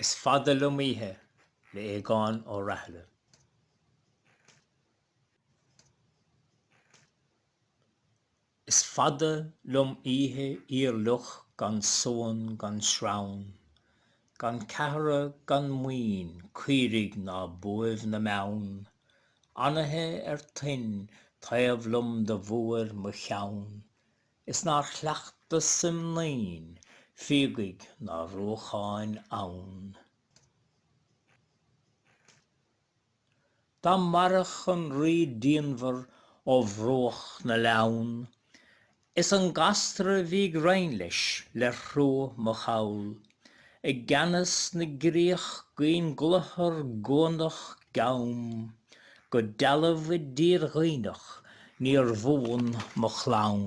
Is fada liom oíche le Aogán Ó Rathaille. Is fada liom oíche fhíorfhliuch gan suan gan srann gan ceathra gan maoin caoirigh ná buaibh na mbeann anaithe ar toinn taobh liom do bhuair mo cheann is nár chleachtas im naíon fíogaigh ná ruacháin abhann. Dá maireadh an rí díonmhar ó bhruach na Leamhan, Is an ghasra bhí ag roinn leis ler thruagh mo chall, I gceannas na gcríoch gcaoin gcluthar gcuanach gcam, Go dealbh i dtír Dhuibhneach níor bhuan mo chlann.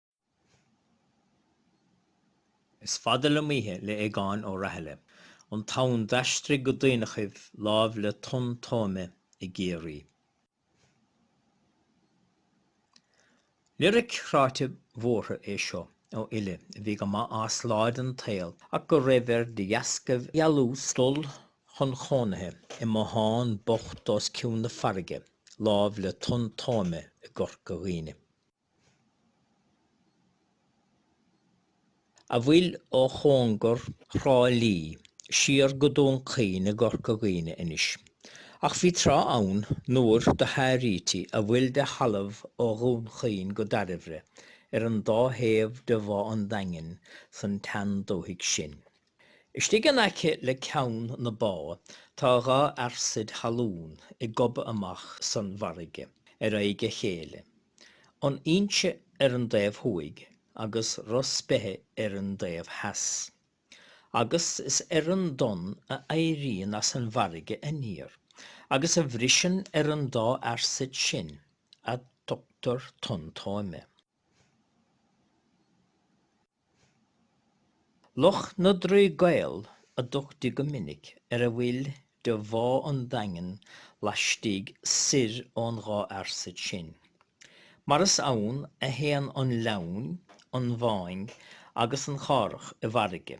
Is fada liom oíche le Aogán Ó Rathaille, an t-am d'aistrigh go Duibhneachaibh láimh le Tonn Tóime i gCiarraí. Liric chráite bhuartha é seo ó fhile a bhí go maith as lá den tsaol ach go raibh air de dheasca dhealús dul chun chónaithe i mbothán bocht os cionn na farraige láimh le Tonn Tóime i gCorca Dhuibhne. a bhfuil ó chóngar Thrá Lí siar go Dún Chaoin i gCorca Dhuibhne anois. Ach bhí tráth ann nuair do háirítí a bhfuil de thalamh ó Dhún Chaoin go Dairbhre ar an dá thaobh de Bhá an Daingin san tsean-dúthaigh sin. Istigh in aice le ceann na bá tá dhá fhearsaid thalún ag gobadh amach san bhfarraige ar aghaidh a chéile. An Inse ar an dtaobh thuaidh agus Ros Beithe ar an dtaobh theas. Agus is ar an dtonn a éiríonn as an bhfarraige aniar agus a bhriseann ar an dá fhearsaid sin a dtugtar Tonn Tóime. Loch na dTrí gCaol a dtugtaí go minic ar a bhfuil de bhá an Daingin laistigh soir ón dhá fhearsaid sin. Mar is ann a théann an Leamhain, an Mhaing agus an Chárthach i bhfarraige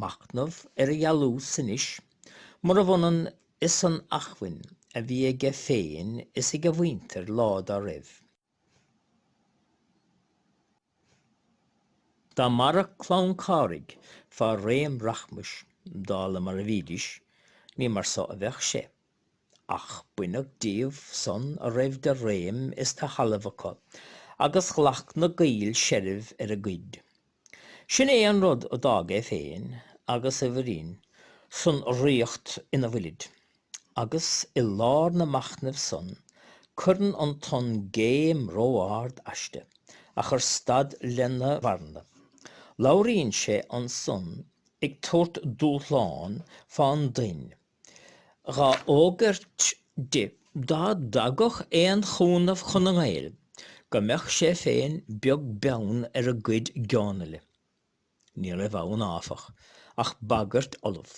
machnamh ar a dhealús anois, murab ionann is an acmhainn a bhí aige féin is ag a mhuintir lá dá raibh. Dá mairfeadh clann Cárthaigh fá réim rachmais, dála mar a bhídís, ní mar so a bheadh sé. Ach baineadh díobh san a raibh de réim is de thalamh acu, agus ghlac na Gaill seilbh ar a gcuid. Sin é an rud a d'fhág é féin agus a mhuirín san riocht ina bhfuilid. Agus i lár na machnamh san cuireann an tonn géim ró-ard aisti, a chuir stad lena mharana. Labhraíonn sé ansan ag tabhairt dúshláin fán dtoinn. ghá fhógairt di, dá dtagadh aon chúnamh chun na nGael, go mbeadh sé féin beag beann ar a cuid geonaile. Ní raibh ann, áfach, ach bagairt fholamh,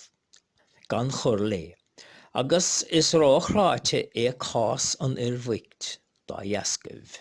gan chur léi, agus is ró-chráidhte é cás an fhir bhoicht dá dheascaibh.